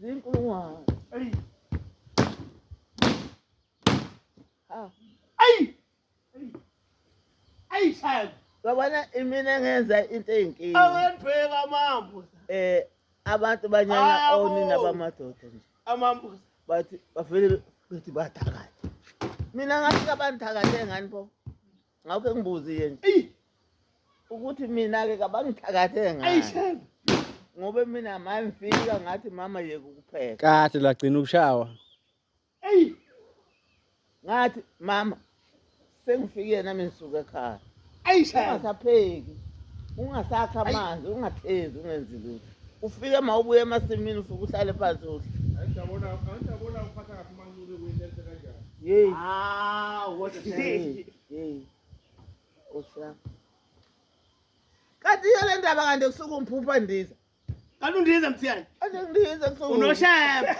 Zinkulungwane. Eyi. Ah. Eyi. Eyi. Eyi shaya. Babona imina ngenza into eyinkingi. Awendweka mambo. Eh abantu banyanya onina bamadoda nje. Amambuza. Bathi bavele bethi bathakatha. Mina ngathi kabanithakathe ngani bo. ngakho engibuzi yena ukuthi mina-ke kabangithakathe ngayo ngoba mina mangifika ngathi mama yeke ukupheka kahle lagcina ukushawa eyi ngathi mama sengifike nami ngisuke ekhaya ungasapheki ungasakha amanzi ungathezi ungenzi lutho ufike ma ubuye emasimini usuke uhlale phansi uhle yeyi Ah, what a shame. yeyi yeyi osha kanti iyo le ndaba kanti kusuke umphupha ndiza Kanti undiza mthiyane. ande ngilinze kusuke Unosheba.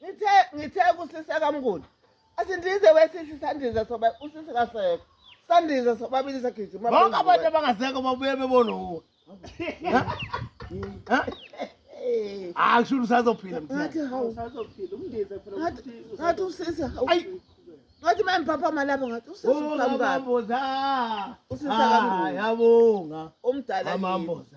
ngithe ngithe kusisa kamnguni asindize wesisi sandize soba usisi kasekho sandize sobabili sagijima bonke abantu abangasekho babuye bebona uwe hayi shulu usazophila ngathi hawu usazophila umndize phela ngathi usisi hawu ngathi manje papa malapha ngathi usisi uqhamuka usisi akambuza yabonga umdala amamboza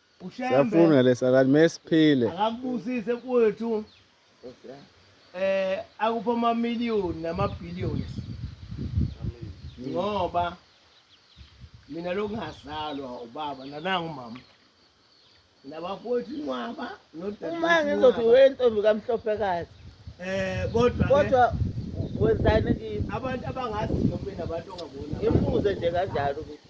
Siyafuna lesa kanti mesiphile. Akakubusise kwethu. Eh akupha ama million nama billions. Ngoba mina lokungazalwa ubaba nanangu mama. Nabafowethu inqwaba nodadewethu. Uma ngizothi wentombi kamhlophe kazi. Eh kodwa kodwa wenzani kimi? Abantu abangaziyo mina abantu ongabona. Imbuze nje kanjalo ukuthi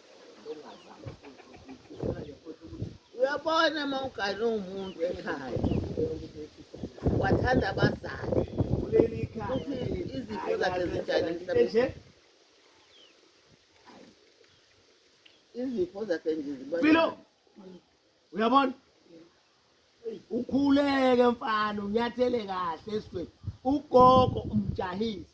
uyabona uma ugane umuntu ekhaya wathanda abazali ukuthi izifo zakhe zinjani emhlabeni izifo zakhe nje zibalo uyabona ukhuleke mfana unyathele kahle esweni ugogo umjahise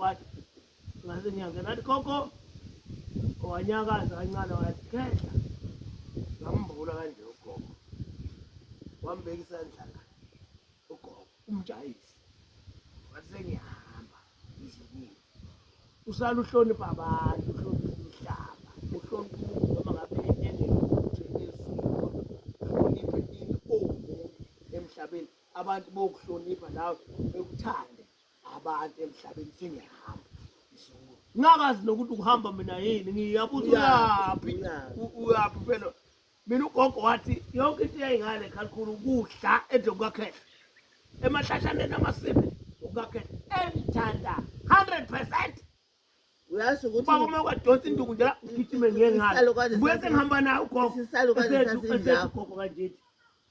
wathi ngase ngiyangena athi gogo wanyakaza kancane wathi khehla ngambula kanje ugogo wambeka isandla la ugogo umjayisi wathi sengiyahamba izibini usala uhlonipha abantu uhlonipha umhlaba uhlonipha umuntu noma ngabe enengokuthi ezulu uhloniphe into omuntu emhlabeni abantu bokuhlonipha nawe bekuthande abantu emhlabeni sengiyahamba ngisukume ngakazi nokuthi ukuhamba mina yini ngiyabuza uyaphi U- uyaphi phela mina ugogo wathi yonke into yayingale khalikhulu ukudla edle kukakhehla emahlashaneni amasimi kukakhehla engithanda 100 percent uyazi ukuthi ubaba uma kwadonsa induku nje la ngigijime ngiye ngalo Isisalukazi buye sasi- sengihamba naye ugogo isisalukazi Esethu- esethu sasindawo. ugogo kanjeti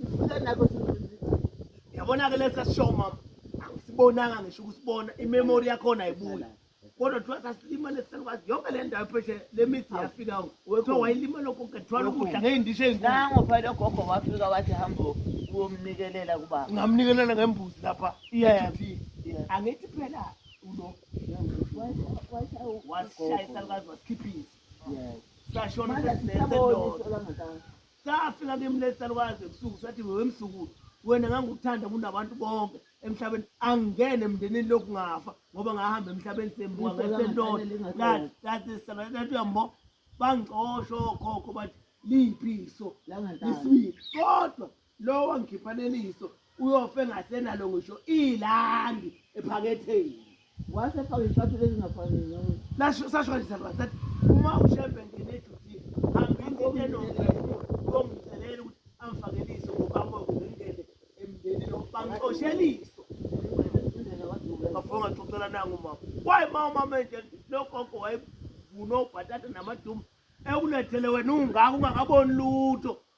Ngifike nakho yabona-ke lesi sasishow mama angisibonanga ngisho ukusibona imemori yakhona ayibuyi kodwa kuthiwa sasilimale sisalukwazi yonke le ndawo pheshe le mithi yafika kuthiwa wayilimala konke kuthiwala ukudla ngey'ndisho ey'nkulu nango phela ogogo wafika wathi hambo uyomnikelela kubaba ngamnikelela ngembuzi lapha Yeah. eGP. Yeah. angithi phela ulo washaya isalukazi wasikhipha izi sashona sesinenze lona safika ngemlesi salukwazi ebusuku sathi wewe msukulu wena ngangukuthanda kunabantu bonke emhlabeni angingene emndenini lokhu ngafa ngoba ngahamba emhlabeni sembuka ngesendoda ngathi ngathi sabantu uyambo bangixosho okhokho bathi liphi iso lisibili kodwa lowo wangikhipha leliso uyofe ngasenalo ngisho ilandi ephaketheni wase faka izicathulo ezingafanele lasho sasho kanjani sathi sathi uma ushembe ngene edutini hambisa into enomphefumulo uyomcelela ukuthi amfakelise ngobamoke ngengene emndenini bangixosheliso bafonga xoxela nangu mama wayi ma umama enje nogogo wayevuna obhatata namaduma ekulethele wena ungaka ungakaboni lutho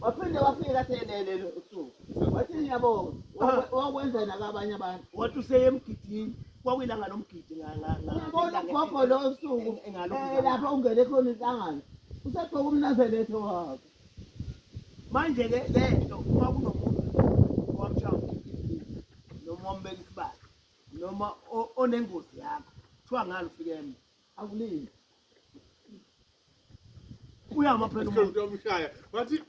waphinde wafika selelele usuku wathi yabo wakwenza nakabanye abantu wathi useyemgidini kwakuyilanga lomgidi ngabona ugogo lo suku eh, lapho ungene khona inhlangano usegqoka umnazeletho wakhe manje-ke le nto uma kunomuntu owamshaya umgidini noma wambeka isibali noma onengozi yakho kuthiwa ngani ufike emva Akulindi. Uyama phela umuntu. Umuntu omshaya. Wathi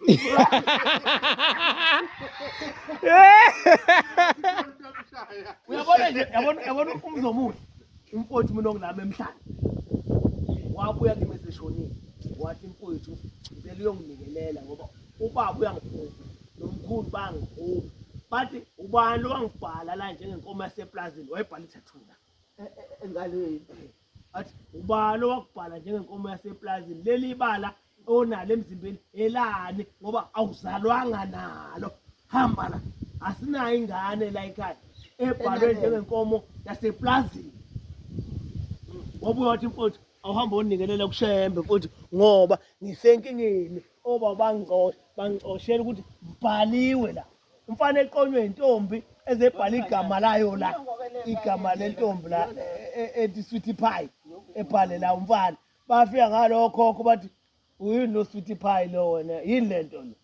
Uyabona nje, yabona yabona umzomuhle. Umfowethu mina ongilama emhlanje. Wabuya kimi eseshonile. Wathi mfowethu ngicela uyongibikelela ngoba ubaba uyangiphupha. Nomkhulu bangiphupha. Bathi ubani lowangibhala la njengenkomo yaseplazini wayibhala ithathula. e- e- engalweni athi ubani owakubhala njengenkomo yaseplazini leli bala onalo emzimbeni elani ngoba awuzalwanga nalo hamba la asinayo ingane la ekhaya ebhalwe Enakeni. njengenkomo yaseplazini wabuya wathi mfowethu awuhambe onikelela kushembe mfowethu ngoba ngisenkingeni oba bangixoshe bangixoshela ukuthi ngibhaliwe la umfana eqonywe intombi ezebhala igama layo la igama lentombi la ethi sweetie pie ebhale la umfana bafika ngalokhokho bathi uyini lo sweetie pie lo wena yini le nto lo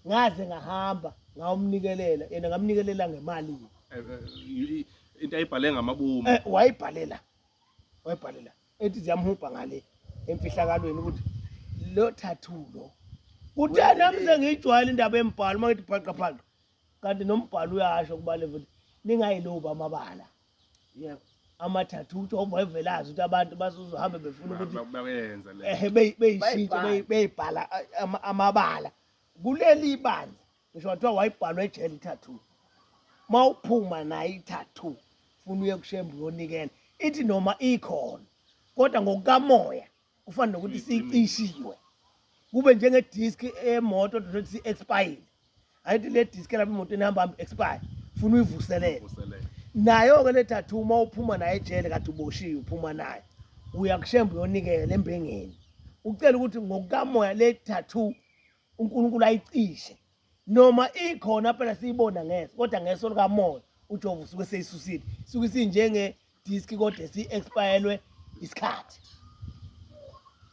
ngaze ngahamba ngawumnikelela yena ngamnikelela ngemali eh, eh, into ayibhale ngamabomu eh, wayibhalela wayibhalela ethi ziyamhubha ngale emfihlakalweni ukuthi lo tattoo lo kuthe nami sengiyijwayele indaba embhalo uma ngithi bhaqa bhaqa kanti nombhalo uyasho kubale futhi ningayilobi amabala yebo amathathu ukuthi obevelazi ukuthi abantu bazohambe befuna ukuthi bayenza le eh beyishintshe beyibhala amabala kuleli bandla ngisho wathiwa wayibhalwa ejele i-tattoo uma uphuma nayo i-tattoo funa uye kushembe uyonikela ithi noma ikhona kodwa ngokukamoya kufana nokuthi sicishiwe kube njengedisk emoto dothi si-expire ayithi le disk lapha imoto enihamba hambi expire funa uyivuselele nayo-ke le tattoo uma uphuma nayo ejele kade uboshiwe uphuma nayo uyakushemba uyonikela embengeni ucela ukuthi ngokukamoya le tattoo uNkulunkulu ayicishe noma ikhona phela siyibona ngeso kodwa ngeso likamoya uJehova usuke seyisusile suke sinjenge disk kodwa si expirelwe isikhathi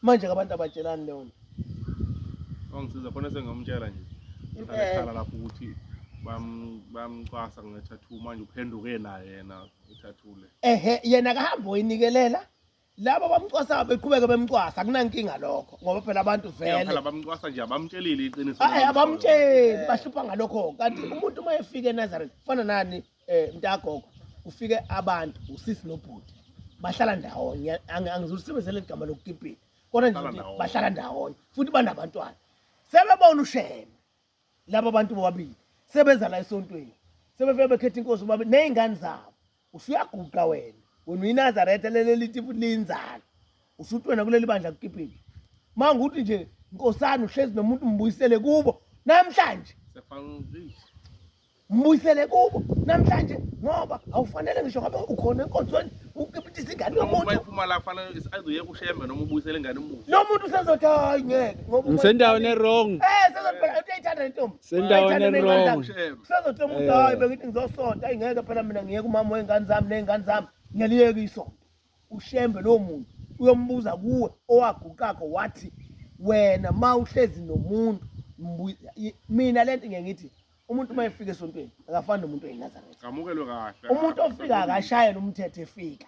manje abantu abatshelani leyo nto ongisiza khona sengiyomtshela nje ngikhala lapho ukuthi bamcwasa ngethathu manje uphenduke naye yena ethathule ehe yena kahambe oyinikelela laba bamcwasa beqhubeke bemcwasa akunankinga lokho ngoba phela abantu vele phela bamcwasa nje abamtshelile iqiniso hayi abamtsheli bahlupha ngalokho kanti umuntu uma efika eNazareth kufana nani eh mntagogo kufike abantu usisi nobhuti bahlala ndawonye angizusebenzele igama lokukipita kodwa nje bahlala ndawonye futhi banabantwana sebebona usheme laba bantu bobabili sebeza la esontweni sebefike bekhetha inkosi bobabili ney'ngane zabo usuyaguqa wena wena uyinazaretha lelelithi futhi liyinzalo usuthi wena kuleli bandla kukiphile uma ngukuthi nje nkosana uhlezi nomuntu mbuyisele kubo namhlanje mbuyisele kubo namhlanje ngoba awufanele ngisho ngabe ukhona enkonzweni ukipitisa ingane yomuntu nomuntu usezothi hayi ngeke ngisendaweni erong usezothi umuntu hayi bengithi ngizosonta ayi ngeke phela mina ngiyeke umama wey'ngane zami ney'ngane zami ngiyaliyeka isonto ushembe lowo muntu uyombuza kuwe owaguqakho wathi wena ma uhlezi nomuntu mina le nto ngiye ngithi umuntu uma efika esontweni akafani nomuntu oyinazaretha umuntu ofika akashayela umthetho efika